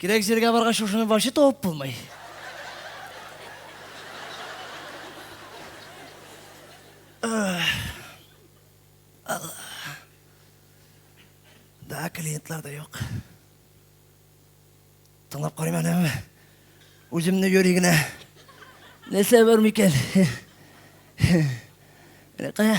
Кирәк җиргә баргач, шушыны вообще табып булмый. Да, клиентлар да юк. Тыңлап карыйм әле. Үземне йөри генә. Нәрсә бар микән? Менә кая?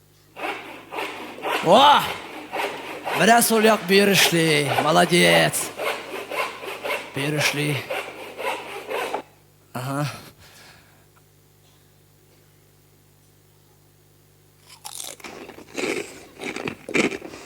О! Менә сол як бөер эшли. Молодец. Бөер эшли. Ага.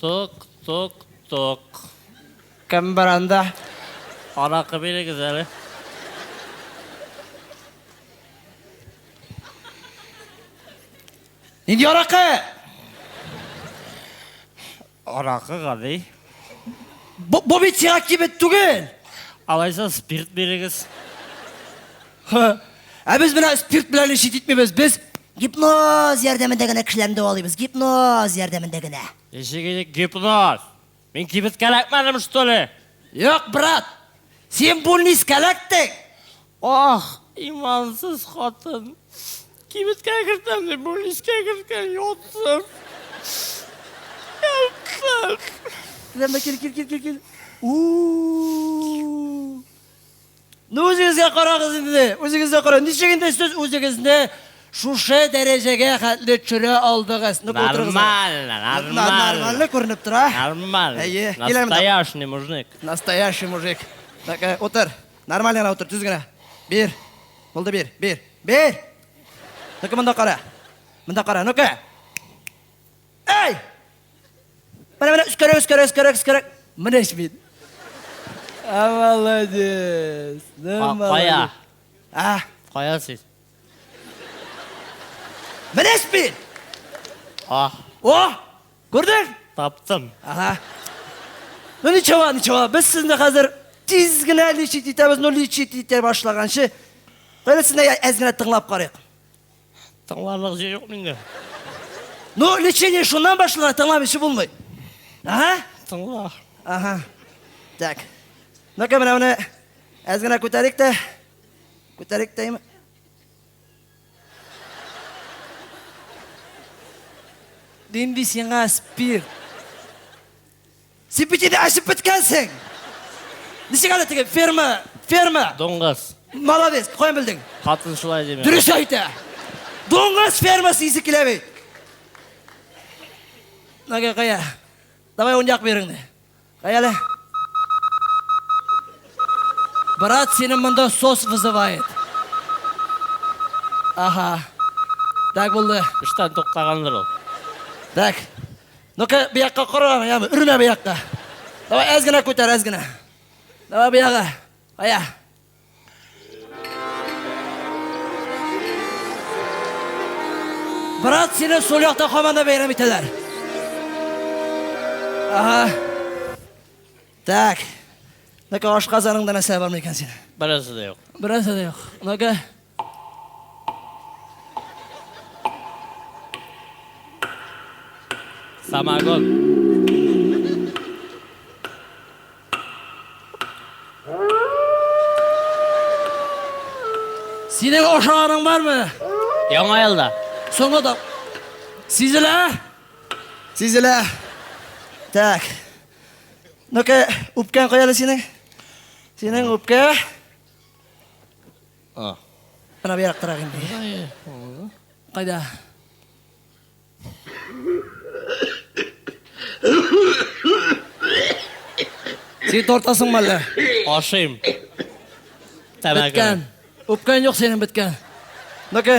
Тук-тук-тук. Кем бар анда? Аракы бирегез әле. Нинди аракы? Аракы гади. Бу бит сиңа кибет түгел. Алайса спирт бирегез. Ха. Ә без менә спирт белән эш итмибез. Без гипноз ярдәмендә генә кешеләрне дәвалыйбыз. Гипноз ярдәмендә генә. Ничек инде гипноз? Мин кибет кәләкмәдем, что ли? Юк, брат. Син бульниз кәләктең. Ах, имансыз хатын. Кибеткә кертәм дип, бульнискә керткән, ятсым. Ятсым. Киләм дә кил, кил, кил, кил, кил. У-у-у. Ну үзегезгә карагыз инде, үзегезгә карагыз. Ничек инде сез үзегезне шушы дәрәҗәгә хәтле төшерә алдыгыз? Ну утырыгыз. Нормально, нормально. Нормально күренеп тора. Нормально. Әйе, киләм. Настоящий мужик. Настоящий мужик. Так, э, утыр. Нормально гына утыр, төз генә. Бир. Булды бир, бир. Бир. Ну-ка монда кара. Монда кара, ну-ка. Әй! Менә, менә, өскәрәк, өскәрәк, өскәрәк, өскәрәк. Менә ич бит. А, молодец. Ну, Кая? А? Кая сез? Менә ич бит. А. О! Күрдең? Таптым. Ага. Ну, ничего, ничего. Без сезне хәзер тиз генә лечить итәбез, ну, лечить итә башлаганчы. Кайрәсенә әз генә тыңлап карыйк. Тыңларлык җыр юк миндә. Ну, лечение шуннан башлана, тыңламыйча булмый. Ага. Тыңла. Ага. Так. Ну-ка, менә моны әз генә күтәрик тә. Күтәрик тәйме? Димби сиңа спирт. Син бит инде әчеп беткәнсең. Ничек әле теге ферма, ферма. Доңгыз. Молодец, каян белдең? Хатын шулай дими. Дөрес әйтә. Дуңгыз фермасы исе килә бит. Нага кая? Давай он як береңне. Кая әле? Брат, сине монда сос вызывает. Ага. Так булды. Эштән туктаганлар ул. Так. Ну-ка, бу якка кара, яме, үрмә бу якка. Давай, әз генә күтәр, әз генә. Давай, бу якка. Ая. Брат, сине сул якта команда бәйрәм итәләр. Ага. Так. Ну-ка, аш казаныңда нәрсә бар микән син? Бераз да юк. Бераз да юк. Ну-ка. Самогон. Синең ошаганың бармы? Яңа елда. Соңгы да. Сизелә? Сизелә. Так. Ну-ка, үпкән каяда синең? Синең үпкә. А. Менә бу яктырак инде. Кайда? Син тортасың мәллә? Ашыйм. Тәмәке. Беткән. Үпкән юк синең беткән. Ну-ка.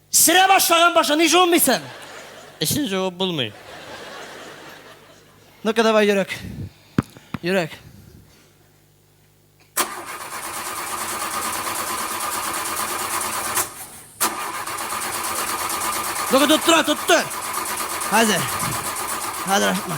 Сөрә башлаган башы, ни жуынмыйсың? Эчен жуып булмый. Ну-ка давай, йөрәк. Йөрәк. Ну-ка тоттыра, тотты. Хәзер. Хәзер ашытма.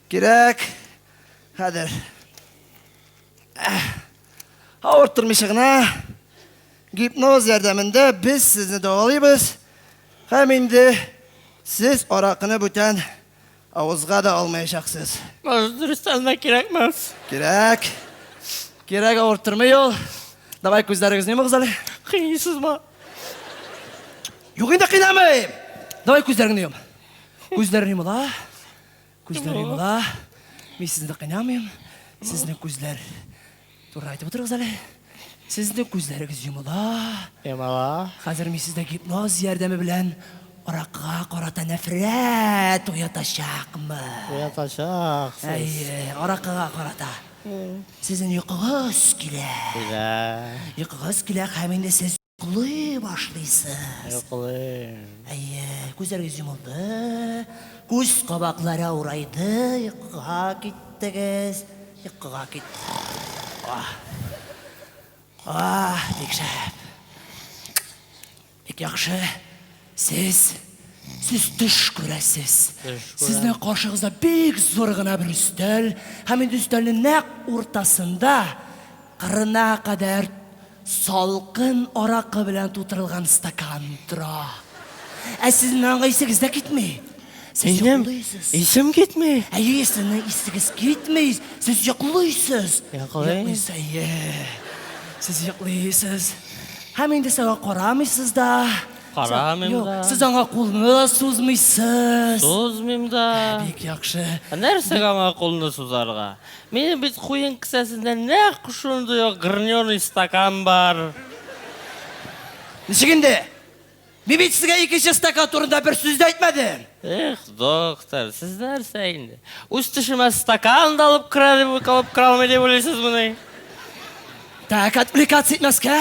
Кирәк. Хәзер. Авырттырмыйча гына гипноз ярдәмендә без сезне дәвалыйбыз. Һәм инде сез аракыны бүтән авызга да алмаячаксыз. Может, дөрестән дә кирәкмәс. Кирәк. Кирәк авырттырмый ул. Давай күзләрегезне йомыгыз әле. Кыйныйсызмы? Юк инде кыйнамыйм. Давай күзләреңне йом. Күзләрең йомыла. Күзләр йомыла. Мин сезне кыйнамыйм. Сезнең күзләр туры айтып утырыгыз әле. Сезнең күзләрегез йомыла. Йомыла. Хәзер мин сездә гипноз ярдәме белән аракыга карата нәфрәт уятачакмы? Уятачак. Әйе, аракыга карата. Сезнең йокыгыз килә. Килә. Йокыгыз килә һәм инде сез Йоклый башлыйсыз. Йоклыйм. Әйе, күзләрегез йомылды, күз кабаклары авырайды, йокыга киттегез, йокыга кит. Ах. Ах, бик шәп. Бик яхшы. Сез, сез төш күрәсез. Төш күрәм. Сезнең каршыгызда бик зур гына бер өстәл, һәм инде өстәлнең нәкъ уртасында кырына кадәр салкын аракы белән тутырылган стакан тора. Ә сезнең аңа исегез дә китми. Сез Минем йоклыйсыз. исем китми. Әйе, сезнең исегез китми. Сез йоклыйсыз. Йоклыйм. Йоклыйсыз, әйе. Сез йоклыйсыз. Һәм инде сиңа карамыйсыз да. Карамыйм Юк, да. Сез аңа кулны да сузмыйсыз. Сузмыйм да. Бик яхшы. Нәрсәгә аңа кулны сузарга? Минем бит куен кесәсендә нәкъ шундый ук граненый стакан бар. Ничек инде? Мин бит сезгә икенче стакан турында бер сүз дә әйтмәдем. Эх, доктор, сез нәрсә инде? Үз төшемә стакан да алып керә дип алып керә алмый дип уйлыйсыз моны? Так, отвлекаться итмәскә,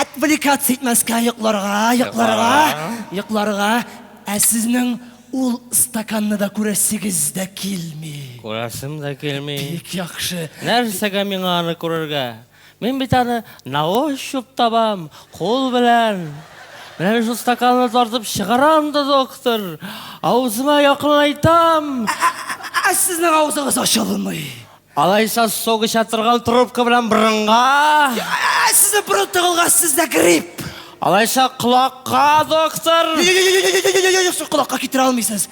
отвлекаться итмәскә, йокларга, йокларга, йокларга. Ә сезнең ул стаканны да күрәсегез дә килми. Күрәсем дә килми. Бик яхшы. Нәрсәгә миңа аны күрергә? Мин бит аны на ощупь табам, кул белән. Менә шул стаканны тартып чыгарам да, доктор, авызыма якынлайтам. Ә сезнең авызыгыз ачылмый. Алайса сок эчә торган трубка белән борынга. Ә сезнең борын тыгылган, сездә грипп. Алайса колакка, доктор. Юк, сез колакка китерә алмыйсыз.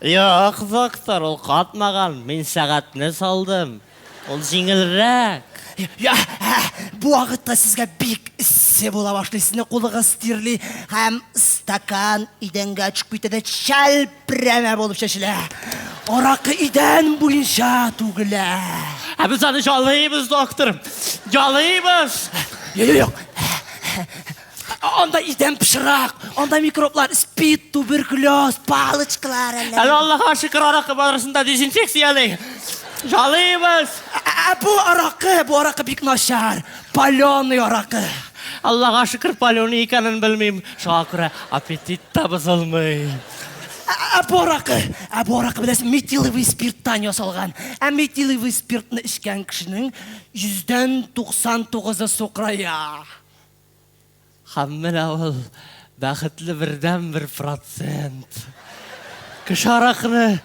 Юк, доктор, ул катмаган, мин сәгатьне салдым. Ул җиңелрәк. Йә, ә, бу вакытта сезгә бик эссе була башлый, сезнең кулыгыз тирли һәм стакан идәнгә очып китә дә чәлпрәмә булып чәчелә. Аракы идән буенча түгелә. Ә без аны ялыйбыз, доктор, ялыйбыз. Юк, юк, юк. Анда идән пычрак, анда микроблар, спид, туберкулез, палочкалар әллә. Әле Аллаһка шөкер аракы барысында дезинфекцияле. Жалыйбыз. Ә бу аракы, бу аракы бик начар. Паленый аракы. Аллаһка шөкер паленый икәнен белмим. Шуңа күрә аппетит та бозылмый. Ә бу аракы, ә бу аракы беләсең, метиловый спирттан ясалган. Ә метиловый спиртны эчкән кешенең 199-ы сукырая. Һәм менә ул бәхетле бердәнбер процент. Кеше аракыны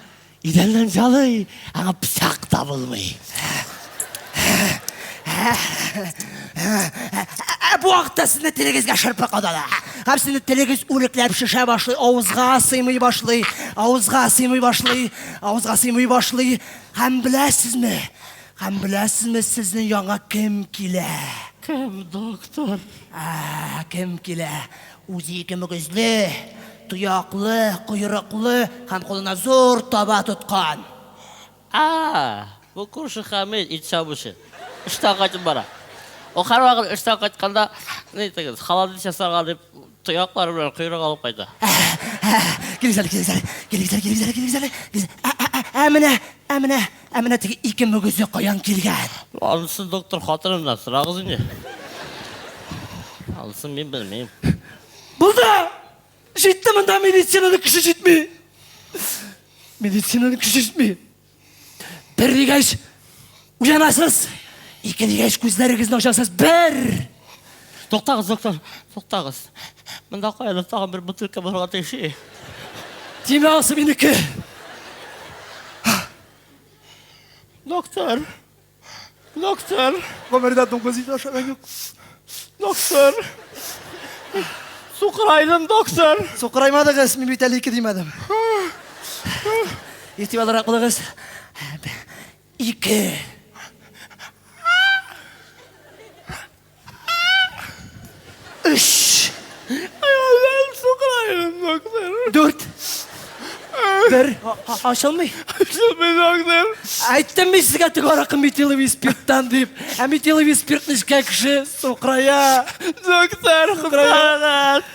идәннән җалый, аңа пычак та булмый. Ә бу вакытта сезне телегезгә шырпы кадала. Һәм сезне телегез үрәкләп шешә башлый, авызга сыймый башлый, авызга сыймый башлый, авызга сыймый башлый. Һәм беләсезме, Һәм беләсезме сезнең янга кем килә? Кем, доктор? Ә, кем килә? Үзе ике мөгезле, тояклы, койрыклы һәм кулына зур таба тоткан. А, бу күрше Хәмит, ит чабучы. Эштән кайтып бара. Ул һәрвакыт эштән кайтканда, ни итегез, холодец ясарга дип, тояклары белән койрык алып кайта. Килегез әле, килегез әле, килегез әле, килегез әле, килегез әле. Ә, ә, ә, ә менә, ә менә. Ә менә теге ике мөгезе каян килгән? Анысы доктор хатыныннан сорагыз инде. Анысы мин белмим. Булды! Җитте монда медицинаны кеше җитми. Медицинаны кеше җитми. Бер дигәч уянасыз, ике дигәч күзләрегезне ачасыз. Бер! Туктагыз, доктор, туктагыз. Монда каядыр тагын бер бутылка булырга тиеш. Димә, анысы минеке. Доктор. Доктор. Гомердә дуңгыз ите ашаган юк. Доктор. Сукырайдым, доктор. Сукыраймадыгыз, мин бит әле ике димәдем. Итеп алырак булыгыз. Ике. Өч. Дүрт. Бер. Ачылмый. Ачылмый доктор. Әйттем мин сезгә теге аракы метиловый спирттан дип. Ә метиловый спирт нечкә кеше сукрая. Доктор, хукрая.